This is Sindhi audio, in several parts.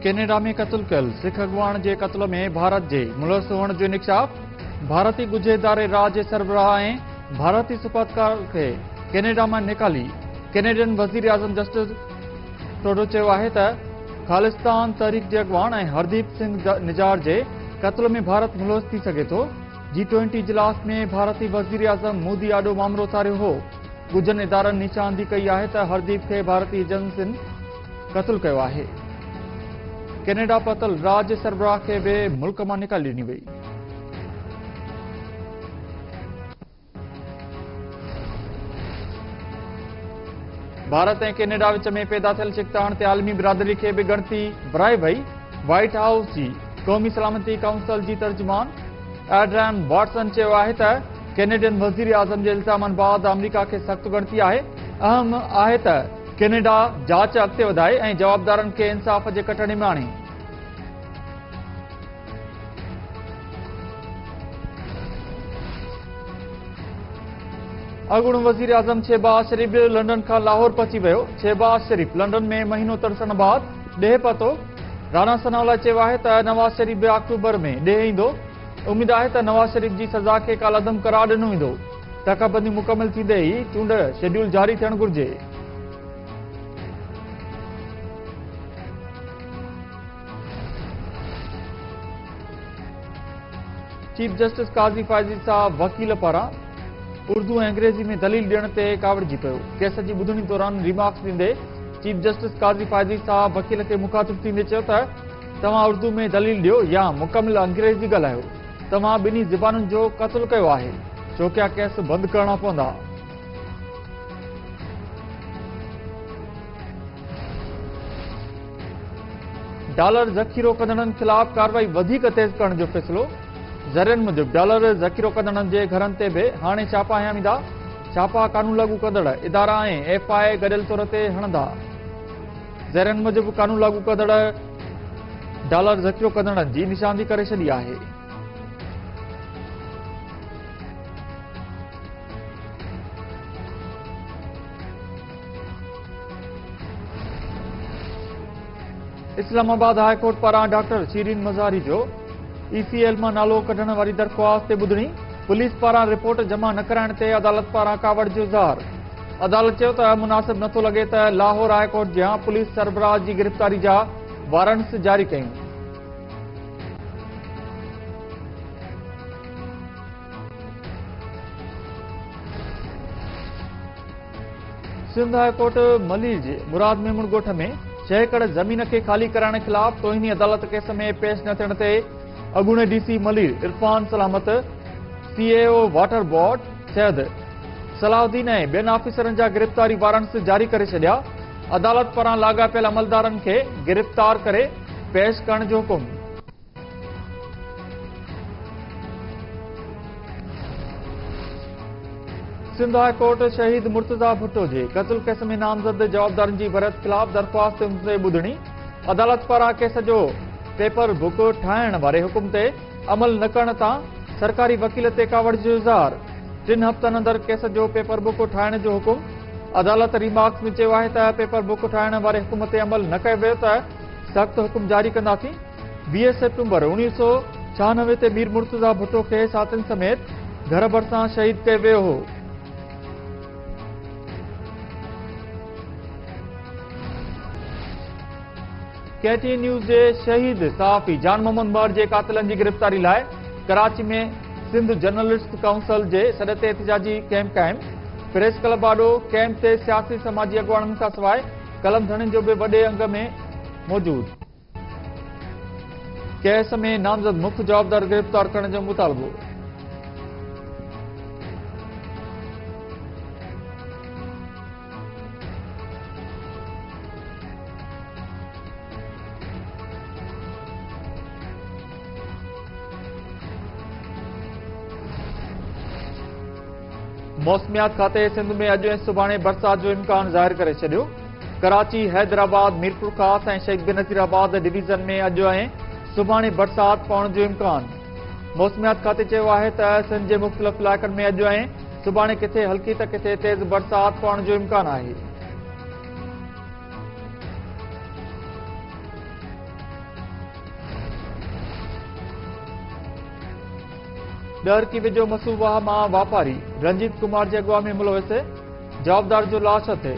ڪينيڊا ۾ قتل ڪيل سک اڳواڻ جي قتل ۾ ڀارت جي ملوث هئڻ جو انڪشاف، ڀارتي ڳجهي اداري را جي سربراهه ۽ ڀارتي سفارتڪار کي ڪينيڊا مان نيڪالي، ڪينيڊين وزيراعظم جسٽن ٽروڊو چيو آهي ته خالصتان تحريڪ جي اڳواڻ ۽ هرديپ سنگهه نجار جي قتل ۾ ڀارت ملوث ٿي سگهي ٿو، جي ٽوئنٽي اجلاس ۾ ڀارتي وزيراعظم مودي آڏو مامرو اٿاريو هو. ڳجهن ادارن نيچاندي ڪئي آهي ته هرديپ کي ڀارتي ايجنسين قتل ڪيو آهي. ڪينيڊا پهتل راڄ سربراهه کي به ملڪ مان نيڪالي ڏني وئي. ڀارت ۽ ڪينيڊا وچ ۾ پيدا ٿيل ڇڪتاڻ تي عالمي برادري کي به ڳڻتي ورائي وئي. وائيٽ هائوس جي قومي سلامتي ڪائونسل جي ترجمان ايڊريان واٽسن چيو آهي ته ڪينيڊين وزيراعظم جي الزامن بعد آمريڪا کي سخت ڳڻتي آهي، اهم آهي ته ڪينيڊا جاچ اڳتي وڌائي ۽ جوابدارن کي انصاف جي ڪٽهڙي ۾ آڻي. اڳوڻو وزيراعظم شهباز شريف به لنڊن کان لاهور پهچي ويو، شهباز شريف لنڊن ۾ مهينو ترسڻ بعد ڏيهه پهتو، رانا ثناء الله چيو آهي ته نواز شريف به آڪٽوبر ۾ ڏيهه ايندو. اميد آهي ته نواز شريف جي سزا کي ڪالعدم قرار ڏنو ويندو، ٽڪا بندي مڪمل ٿيندي ئي چونڊ شيڊيول جاري ٿيڻ گهرجي. چيف جسٽس قاضي فائز عيسيٰ وڪيل پاران اردو ۽ انگريزي ۾ دليل ڏيڻ تي ڪاوڙجي پيو، ڪيس جي ٻڌڻي دوران ريمارڪس ڏيندي چيف جسٽس قاضي فائز عيسيٰ وڪيل کي مخاطب ٿيندي چيو ته توهان اردو ۾ دليل ڏيو يا مڪمل انگريزي ڳالهايو توهان ٻنهي زبانن جو قتل ڪيو آهي چوڪيا ڪيس بند ڪرڻا پوندا. ڊالر ذخيرو ڪندڙن خلاف ڪارروائي وڌيڪ تيز ڪرڻ جو فيصلو ذريعن موجب ڊالر ذخيرو ڪندڙن جي گهرن تي به هاڻي ڇاپا هنيا ويندا ڇاپا قانون لاڳو ڪندڙ ادارا ۽ ايف آء اي گڏيل طور تي هڻندا ذريعن موجب قانون لاڳو ڪندڙ ڊالر ذخيرو ڪندڙن جي نشاندهي ڪري ڇڏي آهي اسلام آباد هاء ڪورٽ پاران ڊاڪٽر شيرين مزاري جو اي سي ايل مان نالو ڪڍڻ واري درخواست تي ٻڌڻي پوليس پاران رپورٽ جمع نه ڪرائڻ تي عدالت پاران ڪاوڙ جو اظهار عدالت چيو ته مناسب نه ٿو لڳي ته لاهور هاء ڪورٽ جيان پوليس سربراهه جي گرفتاري جا وارنٽس جاري ڪيون. سنڌ هاء ڪورٽ ملير جي مراد ميمڻ ڳوٺ ۾ ڇهه ايڪڙ زمين کي خالي ڪرائڻ خلاف توهيني عدالت ڪيس ۾ پيش نه ٿيڻ تي اڳوڻي D C Malir Irfan Salamat C E O water board Syed Salahuddin ۽ ٻين آفيسرن جا گرفتاري وارنٽس جاري ڪري ڇڏيا، عدالت پاران لاڳاپيل عملدارن کي گرفتار ڪري پيش ڪرڻ جو حڪم. سنڌ هاء ڪورٽ شهيد مرتضيٰ ڀٽو جي قتل ڪيس ۾ نامزد جوابدارن جي وريت خلاف درخواست تي ٻڌڻي، عدالت پاران ڪيس جو پيپر بڪ ٺاهڻ واري حڪم تي عمل نه ڪرڻ تان سرڪاري وڪيل تي ڪاوڙ جو اظهار، ٽن هفتن اندر ڪيس جو پيپر بڪ ٺاهڻ جو حڪم، عدالت ريمارڪس ۾ چيو آهي ته پيپر بڪ ٺاهڻ واري حڪم تي عمل نه ڪيو ويو ته سخت حڪم جاري ڪنداسين، ويهه سيپٽمبر اڻويهه سؤ ڇهانوي تي مير مرتضيٰ ڀٽو کي ساٿين سميت گهر ڀرسان شهيد ڪيو ويو هو. ڪي ٽي اين نيوز جي شهيد صحافي جان محمد مهر جي قاتلن جي گرفتاري لاء ڪراچي ۾ سنڌ جرنلسٽ ڪائونسل جي سڏ تي احتجاجي ڪيمپ قائم پريس ڪلب آڏو ڪيمپ تي سياسي سماجي اڳواڻن کان سواء قلم ڌڻين جو به وڏي انگ ۾ موجود ڪيس ۾ نامزد مک جوابدار گرفتار ڪرڻ جو مطالبو موسميات کاتي سنڌ ۾ اڄ ۽ سڀاڻي برسات جو امڪان ظاهر ڪري ڇڏيو ڪراچي حيدرآباد ميرپورخاص ۽ شيخ بنظير آباد ڊويزن ۾ اڄ ۽ سڀاڻي برسات پوڻ جو امڪان موسميات کاتي چيو آهي ته سنڌ جي مختلف علائقن ۾ اڄ ۽ سڀاڻي ڪٿي هلڪي ته ڪٿي تيز برسات پوڻ جو امڪان آهي. ڏهرڪي ويجهو مسو واهه مان واپاري رنجيت ڪمار جي اڳواڻ ۾ ملوث جوابدار جو لاش هٿي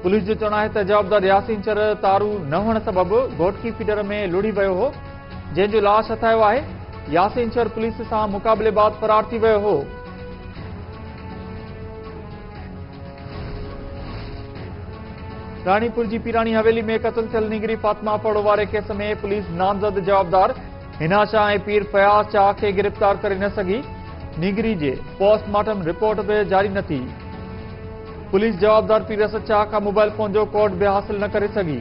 پوليس جو چوڻ آهي ته جوابدار ياسين چر تارو نه هئڻ سبب گهوٽڪي فيڊر ۾ لڙهي ويو هو جنهن جو لاش هٿايو آهي ياسين چر پوليس سان مقابلي بعد فرار ٿي ويو هو راڻيپور جي پيراڻي حويلي ۾ قتل ٿيل نينگري فاطمه اپڙو واري ڪيس ۾ پوليس نامزد جوابدار هنا شاهه ۽ پير فياض شاهه کي گرفتار ڪري نه سگهي نينگري جي پوسٽ مارٽم رپورٽ به جاري نه ٿي پوليس جوابدار پير اسد شاهه کان موبائل فون جو ڪوڊ به حاصل نه ڪري سگهي